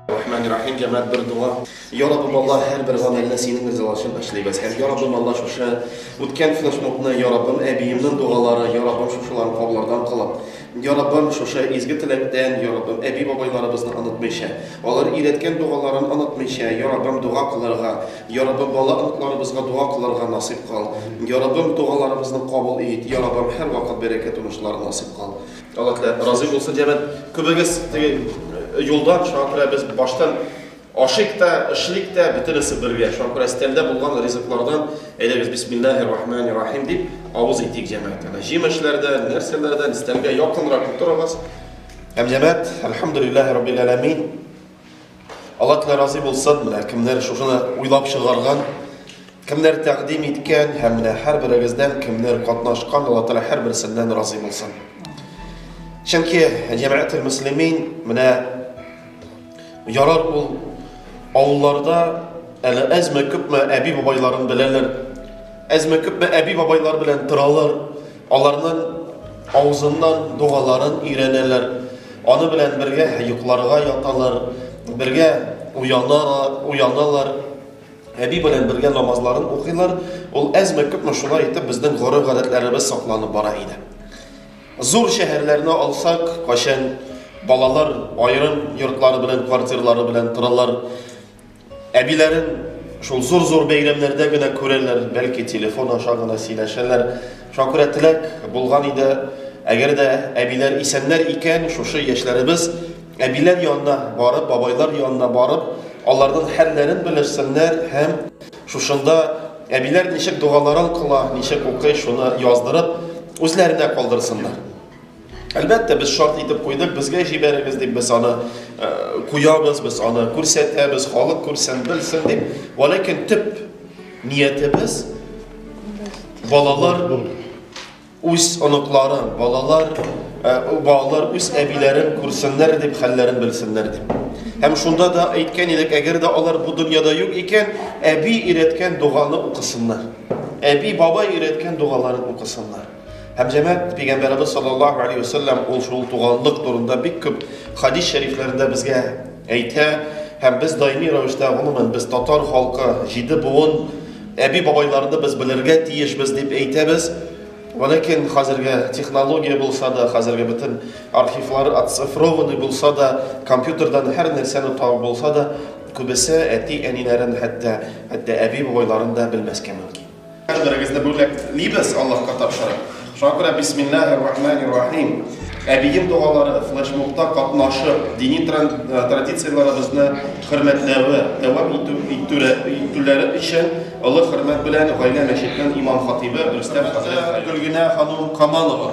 Рахман Рахим җәмәт бер дуа. Я Раббым Аллаһ һәрбер гамәлне синең ризалашын эшлибез. Һәм я Раббым Аллаһ шушы үткән флешмобны я Раббым әбиемнең дугалары, я Раббым шушыларны кабуллардан кылып, Яраббым, шушы изге теләктән, Яраббым, әби-бабайларыбызны онытмыйча, алар өйрәткән догаларын онытмыйча, Яраббым, дога кылырга, Яраббым, бала оныкларыбызга дога кылырга насыйп кыл. Яраббым, догаларыбызны кабул ит, Яраббым, һәрвакыт бәрәкәт уңышлар насыйп кыл. Аллаһ Тәгалә разый булсын, җәмәгать. Күбегез теге юлдан, шуңа күрә без баштан Ашыйк та, эшлик тә, бөтенесе бергә. Шакыр әстәлдә булган ризыклардан, әйдәгез, бисмиллаһи рахмани рахим дип, авыз итик җәмәгатенә. Җимешләрдән, нәрсәләрдән, өстәлгә якынрак утырыгыз. Һәм җәмәгать, әлхәмдүлиллаһи раббил әләмин. Алла Тәгалә разый булсын, менә кемнәр шушыны уйлап чыгарган, кемнәр тәкъдим иткән һәм менә һәрберегездән кемнәр катнашкан, Алла Тәгалә һәрберсеннән разый булсын. Чөнки җәмәгател муслимин менә Ярар ул авылларда әле әзме күпме әби бабайларын беләләр. Әзме күпме әби бабайлар белән торалар. Аларның авызыннан догаларын өйрәнәләр. Аны белән бергә йокларга яталар, бергә уяналар, уяналар. Әби белән бергә намазларын укыйлар. Ул әзме күпме шулай итеп безнең гореф-гадәтләребез сакланып бара иде. Зур шәһәрләрне алсак, кайчан балалар аерым йортлары белән, квартирлары белән торалар. Әбиләрен шул зур-зур бәйрәмнәрдә генә күрәләр, бәлки телефон аша гына сөйләшәләр. Шуңа күрә теләк булган иде, әгәр дә әбиләр исәннәр икән, шушы яшьләребез әбиләр янына барып, бабайлар янына барып, аларның хәлләрен белешсеннәр һәм Шушында әбиләр ничек догаларын кыла, ничек укый, шуны яздырып, үзләренә калдырсыннар. Әлбәттә, без шарт итеп куйдык, безгә җибәрегез дип без аны э, куябыз, без аны күрсәтәбез, халык күрсен, белсен дип. Валәкин төп ниятебез балалар Үз оныклары, балалар, э, балалар үз әбиләрен күрсеннәр дип, хәлләрен белсеннәр дип. Һәм шунда да әйткән идек, әгәр дә алар бу дөньяда юк икән, әби өйрәткән доганы укысыннар. Әби, бабай өйрәткән догаларын укысыннар. Һәм җәмәт пәйгамбәрбез саллаллаһу алейхи ва саллям ул шул туганлык турында бик күп хадис шәрифләрендә безгә Әйтә, һәм без даими рәвештә, гомумән, без татар халкы, җиде буын, әби-бабайларны без белергә тиешбез дип әйтәбез. Вәләкин хәзерге технология булса да, хәзерге бөтен архивлар отцифрованы булса да, компьютердан һәр нәрсәне табып булса да, күбесе әти-әниләрен, хәтта, хәтта әби-бабайларын да белмәскә мөмкин. Кадерегезне бүләк либез Аллаһка тапшырып. Шуңа күрә бисмиллахир рахманир рахим. Әбием догалары, флешмобта катнашып, дини традицияләребезне хөрмәтләве, дәвам итү итүләре өчен олы хөрмәт белән гаилә мәчетенең имам-хатыйбы Рөстәм хәзрәт Гөлгенә ханым Камалова.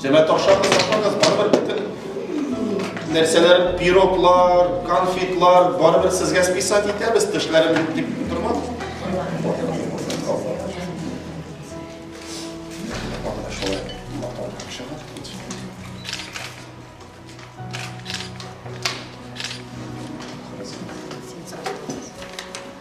Җәмәт охшап башлагыз, барыбер бөтен нәрсәләр, пироглар, конфетлар, барыбер сезгә списать итәбез, тешләрен бит дип тормагыз.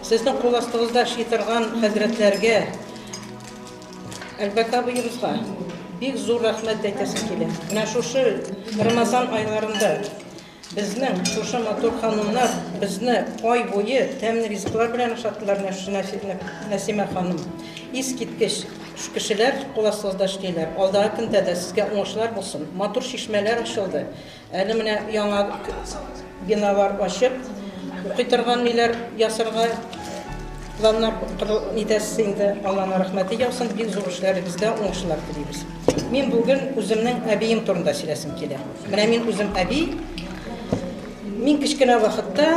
Сезнең кул астыгызда эшли торган хәзрәтләргә, Әлбәт абыебызга бик зур рәхмәт әйтәсем килә. Менә шушы Рамазан айларында безнең шушы матур ханымнар безне ай буе тәмле ризыклар белән ашаттылар, Нәсимә ханым. Искиткеч кешеләр кул астыгызда эшлиләр. Алдагы көндә дә сезгә уңышлар булсын. Матур чишмәләр ачылды. Әле менә яңа биналар ачып, укый торган ниләр ясарга планнар итәсез инде. Алланың рәхмәте яусын, бик зур эшләрегездә уңышлар телибез. Мин бүген үземнең әбием турында сөйләсем килә. Менә мин үзем әби. Мин кечкенә вакытта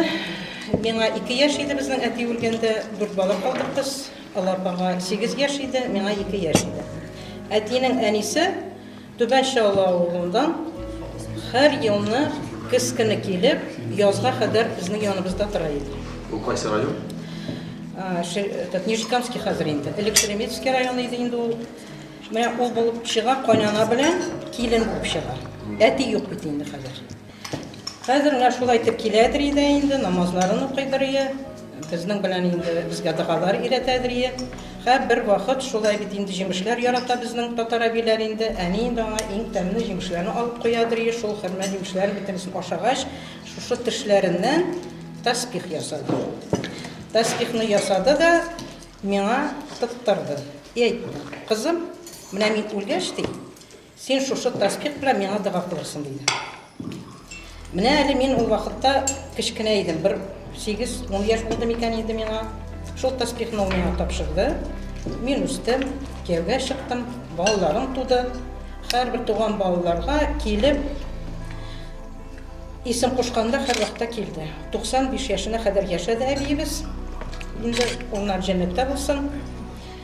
миңа 2 яшь иде безнең әти үлгәндә, 4 бала калдык без. Алар апага 8 яшь иде, миңа 2 яшь иде. Әтинең әнисе Түбән Чаллы авылыннан һәр елны көз көне килеп, язга кадәр безнең яныбызда тора иде. Бу кайсы район? Этот Нижекамский хәзер инде. Элек Шереметевский районы иде инде ул. Менә ул булып чыга, кайнана белән килен булып чыга. Әти юк бит инде хәзер. Хәзер менә шул әйтеп киләдер иде инде, намазларын укыйдыр ие, безнең белән инде безгә догалар өйрәтәдер ие. Хә, бер вакыт шулай бит инде җимешләр ярата безнең татар әбиләр инде, әни инде аңа иң тәмле җимешләрне алып куядыр ие, шул хөрмә җимешләрен бөтенесен ашагач, шушы тешләреннән тәсбих ясады. Тәсбихны ясады да миңа тоттырды. И әйтте, кызым, менә мин үлгәч, ди, Син шушы тәсбих белән миңа дога кылырсың, диде. Менә әле мин ул вакытта кечкенә идем, бер сигез-ун яшь булды микән инде миңа. Шул тәсбихны ул миңа тапшырды. Мин үстем, кияүгә чыктым, балаларым туды. Һәрбер туган балаларга килеп, исем кушканда һәрвакытта килде. 95 яшенә кадәр яшәде әбиебез. Инде уллар җәннәттә булсын.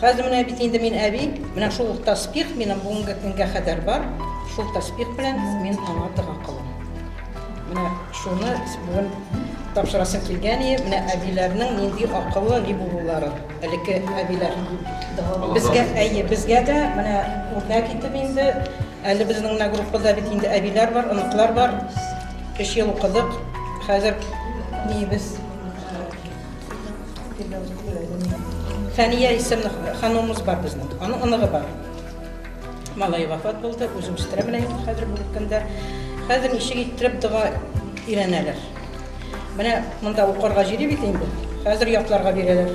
Хәзер менә бит инде мин әби, менә шул ук таспих минем бүгенге көнгә кадәр бар. Шул таспих белән мин аңа дога кылам. Менә шуны бүген тапшырасым килгән иде. Менә әбиләрнең нинди акыллы ни булулары. Элекке әбиләр. Безгә, әйе, безгә дә менә үрнәк итеп инде әле безнең менә группада бит инде әбиләр бар, оныклар бар. Өч ел укыдык. Хәзер ниебез? Фәния исемле ханумыз бар безнең. Аның оныгы бар. Малай вафат булды, үзем үстерәм менә инде хәзер бүгенге көндә. Хәзер ничек иттереп дога өйрәнәләр. Менә монда укырга җире бит инде. Хәзер ятларга бирәләр.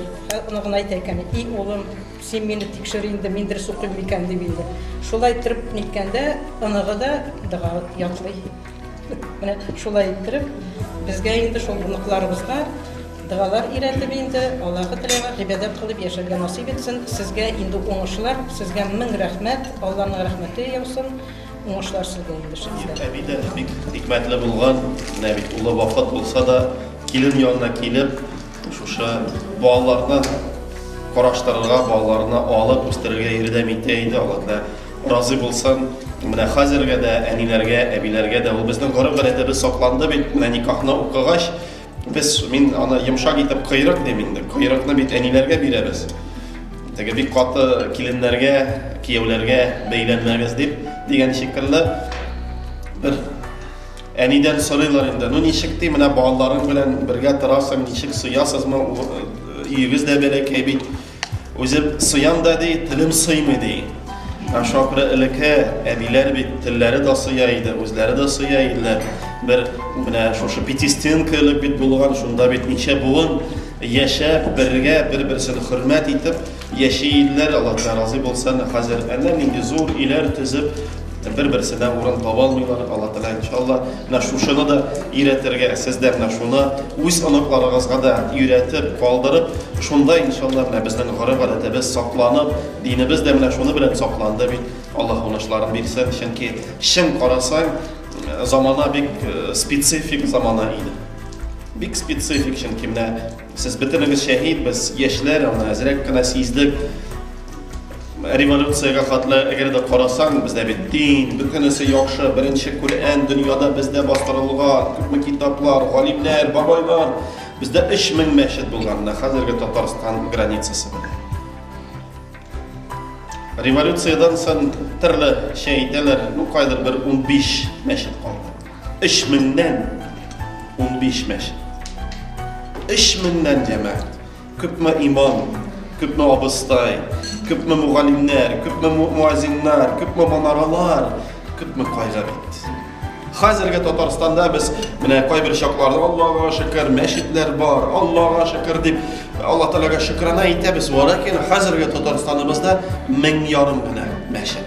Аны гына әйтә икән, "И улым, син мине тикшер инде, мин дөрес укыйм микән?" дип инде. Шулай иттереп ниткәндә, оныгы да дога ятлый. Менә шулай иттереп, безгә инде шул оныкларыбызга дәгалар өйрәтеп инде, Аллаһы Тәгаләгә гыйбадәт кылып яшәргә насыйп итсен. Сезгә инде уңышлар, сезгә мең рәхмәт, Алланың рәхмәте яусын. Уңышлар сезгә инде шәхсән. Әби дә бик хикмәтле булган, менә бит улы вафат булса да, килен янына килеп, Шушы балаларны караштырырга, балаларны алып үстерергә ярдәм итә иде. Алла Тәгалә разый булсын. Менә хәзергә дә әниләргә, әбиләргә дә ул безнең гореф гадәтебез сакланды бит. Менә никахны укыгач, без мин аны йомшак итеп кыйрык дим инде. Кыйрыкны бит әниләргә бирәбез. Теге бик каты киленнәргә, кияүләргә бәйләнмәгез дип дигән шикелле бер Әнидән сорыйлар инде, ну ничек ди, менә балаларың белән бергә торасың, ничек сыясызмы, өегез дә бәләкәй бит. Үзем сыям да ди, телем сыймый ди. Ә шапры элеке әбиләр бит телләре дә сыя иде, үзләре дә сыя иделәр. Бер менә шушы пятистенка элек бит булган, шунда бит ничә буын яшәп, бергә бер-берсен хөрмәт итеп яши иделәр. Аллаһ разый булсын. Хәзер әнә нинди зур өйләр төзеп, Бер-берсенә урын таба алмыйлар, Алла Тәгалә иншалла, менә шушыны да өйрәтергә, сез дә менә шуны үз оныкларыгызга да өйрәтеп, калдырып, шунда иншалла менә безнең гореф-гадәтебез сакланып, динебез дә менә шуны белән сакланды бит. Алла уңышларын бирсен, чөнки чын карасаң, замана бик э, специфик замана иде. Бик специфик, чөнки менә Сез бөтенегез шәһид, без яшьләр, аны әзрәк кенә сиздек. Революциягә хәтле әгәр дә карасаң, бездә бит дин, бөтенесе яхшы, беренче Коръән дөньяда бездә бастырылган, күпме китаплар, галимнәр, бабайлар. Бездә 3000 мәчет булган, менә хәзерге Татарстан границасы белән. Революциядән соң төрле шәй әйтәләр, ну кайдыр бер 15 мәчет калды. Өч меңнән унбиш мәчет. Өч меңнән җәмәгать. Күпме имам, күпме абыстай, күпме мугалимнәр, күпме муазиннар, күпме манаралар, күпме кайгы бит. Хәзерге Татарстанда без менә кайбер чакларда Аллага шөкер, мәчетләр бар, Аллага шөкер дип, Алла Тәгаләгә шөкранә итәбез. Ләкин хәзерге Татарстаныбызда мең ярым гына мәчет.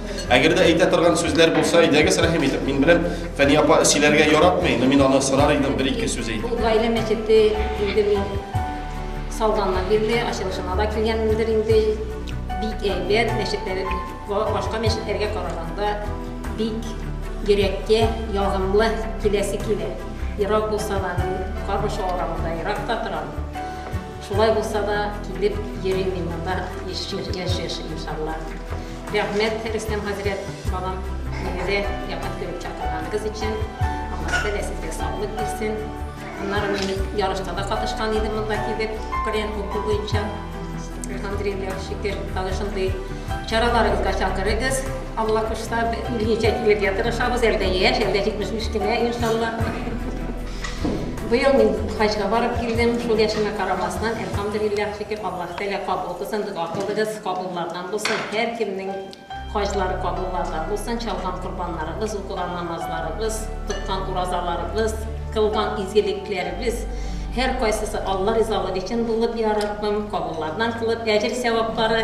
Әгәр дә әйтә торган сүзләр булса, әйдәгез рәхим итеп, мин беләм, Фәни апа сөйләргә яратмый, но мин аны сорар идем бер-ике сүз әйтеп. Бу гаилә мәчете инде мин салганнан бирле ачылышына да килгәнмендер инде. Бик әйбәт мәчетләр, башка мәчетләргә караганда бик йөрәккә ягымлы киләсе килә. Ерак булса да, Карбыш авылында ерак та торам. Шулай булса да, килеп йөрим мин монда яшь-яшь иншалла. Рәхмәт, Рөстәм хәзрәт, балам, мине дә якын күреп чакырганыгыз өчен. Аллаһ Тәгалә сезгә саулык бирсен. Аннары мин ярышта да катышкан идем монда килеп, Коръән уку буенча. Алхамдулиллах, шөкер, тагы шундый чараларыгызга чакырыгыз. Алла кушса, берничә килергә тырышабыз, әлдә яшь, әлдә 75 кенә, иншалла. Быел мин хаҗга барып килдем, шул яшемә карамастан, әлхамдулиллах, шөкер, Аллаһ Тәгалә кабул кылсын, дога кылыгыз, кабуллардан булсын, һәр кемнең хаҗлары кабуллардан булсын, чалган корбаннарыбыз, укыган намазларыбыз, тоткан уразаларыбыз, кылган изгелекләребез, һәр кайсысы Алла ризалыгы өчен булып, я Раббым, кабуллардан кылып, әҗер сәваплары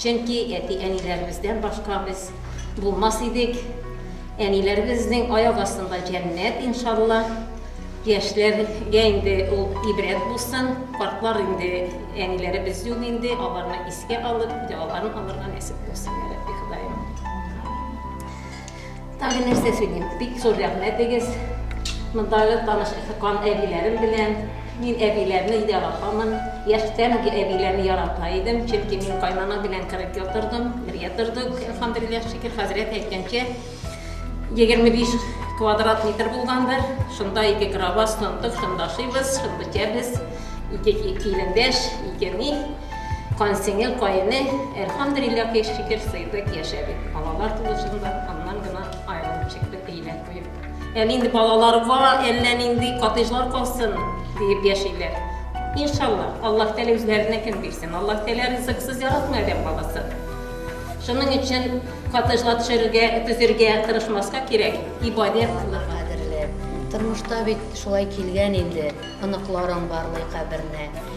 Чөнки әти-әниләребездән башка без булмас идек. Әниләребезнең аяк астында җәннәт, иншалла. Яшьләргә инде ул ибрәт булсын. Картлар инде әниләребез юк инде, аларны искә алып, дәваларын алырга нәсеп булсын, йә Рабби Ходаем. Тагы нәрсә сөйлим? Бик зур рәхмәт дигез. Мондагы таныш кан әбиләрем белән. Мин әбиләрне яратамын. Яшьтән үк әбиләрне ярата идем, чөнки мин кайнана белән 40 ел тордым, бергә тордык. Әлхәмдүлилләһ, шөкер, хәзрәт әйткәнчә, 25 квадрат метр булгандыр. Шунда ике кровать, шунда ашыйбыз, шунда эчәбез. Ике килендәш, ике ни. Кансеңе, каене, Әлхәмдүлилләһ ки, шөкер, сыйдык, яшәдек. Балалар тулышында, аннан гына аерылып чыктык, өйләр куеп. Әле инде балаларга әллә нинди коттеджлар калсын, диеп яшиләр. Иншалла, Аллаһ Тәгалә үзләренә кем бирсен. Аллаһ Тәгалә ризыксыз яратмый адәм баласын. Шуның өчен коттеджлар төшерергә, төзергә тырышмаска кирәк, ибадәт кылырга. Кадерле, тормышта бит шулай килгән инде, оныкларың бармый каберне.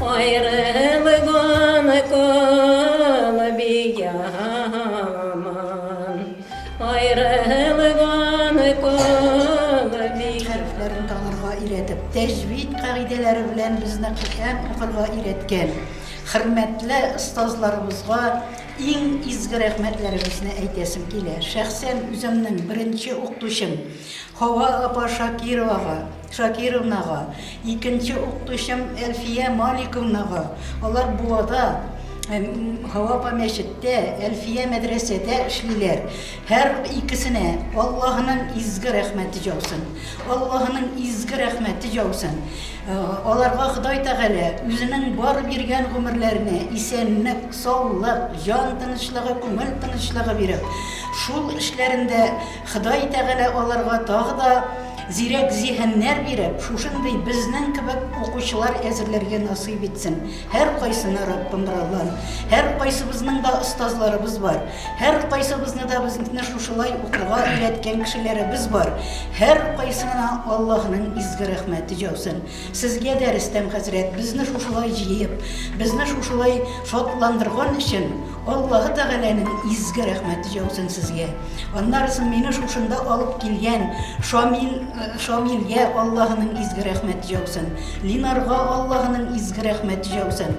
Аерылган калби яман, аерылган калби. Хәрефләрен танырга өйрәтеп, тәҗвид кагыйдәләре белән безне Коръән укырга өйрәткән хөрмәтле остазларыбызга иң изге рәхмәтләребезне әйтәсем килә. Шәхсән үземнең беренче укытучым Хава апа Шакировага Шакировнага, икенче укытучым Әлфия Маликовнага, алар Буада, Һавапа мәчеттә, Әлфия мәдрәсәдә эшлиләр, һәр икесенә Аллаһының изге рәхмәте яусын. Аллаһының изге рәхмәте яусын. Э, аларга Ходай Тәгалә үзенең бар биргән гомерләренә исәнлек, саулык, җан тынычлыгы, күңел тынычлыгы биреп, шул эшләрендә Ходай Тәгалә аларга тагы да зирәк зиһеннәр биреп, шушындый безнең кебек укучылар әзерләргә насыйп итсен. Һәркайсына Раббым разан. Һәркайсыбызның да остазларыбыз бар. Һәркайсыбызны да безне шушылай укырга өйрәткән кешеләребез бар. Һәркайсына Аллаһның изге рәхмәте җаусын. Сезгә дә, Рөстәм хәзрәт, безне шушылай җыеп, безне шушылай шатландырган өчен Аллаһы Тәгаләнең изге рәхмәте җаусын сезгә. Аннарысын мине шушында алып килгән Шамил, Шамилгә Аллаһының изге рәхмәте җаусын, Линарга Аллаһының изге рәхмәте җаусын.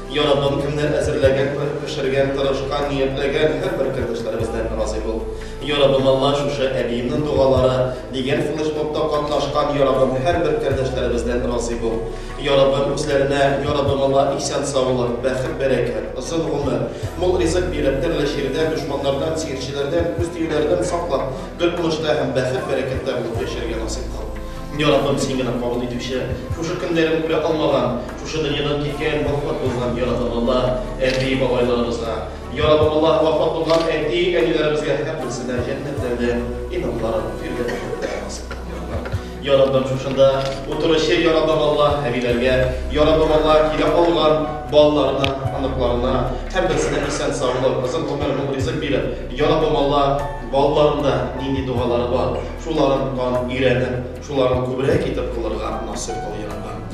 Я Раббым, кемнәр әзерләгән, күреп пешергән, тырышкан, ниятләгән, һәрбер кердәшләребездән разый бул. Я Раббым, Алла, шушы әбиемнең дугалары дигән флешмобта катнашкан, Я Раббым, һәрбер кердәшләребездән разый бул. Я Раббым, үзләренә, Я Раббым, Алла, исән-саулык, бәхет-бәрәкәт, озын гомер, мул ризык биреп, төрле чирдән, дошманнардан, сихерчеләрдән, күз тиюләрдән саклап, бер уңышта һәм бәхет-бәрәкәттә булып яшәргә насыйп кыл. Я Раббым, Син генә кабул итүче, шушы көннәрен күрә алмаган, Шушы дөньядан киткән, вафат булган яратымлылар, әби-бабайларыбызга, ярабабалар, вафат булган әти-әниләребезгә һәм берсенә җәннәтләрдә инамларын өйрәтеп Яраббым шушында утыручы Яраббым Аллаһ әбиләргә, Яраббым Аллаһ килә калган балаларына, аныкларына һәм берсенә исән саулык, озын гомер, мул ризык биреп, Яраббым Аллаһ балаларында нинди дугалары бар, шуларын тан өйрәнеп, шуларын күбрәк итеп кылырга насыйп кыл, Яраббым.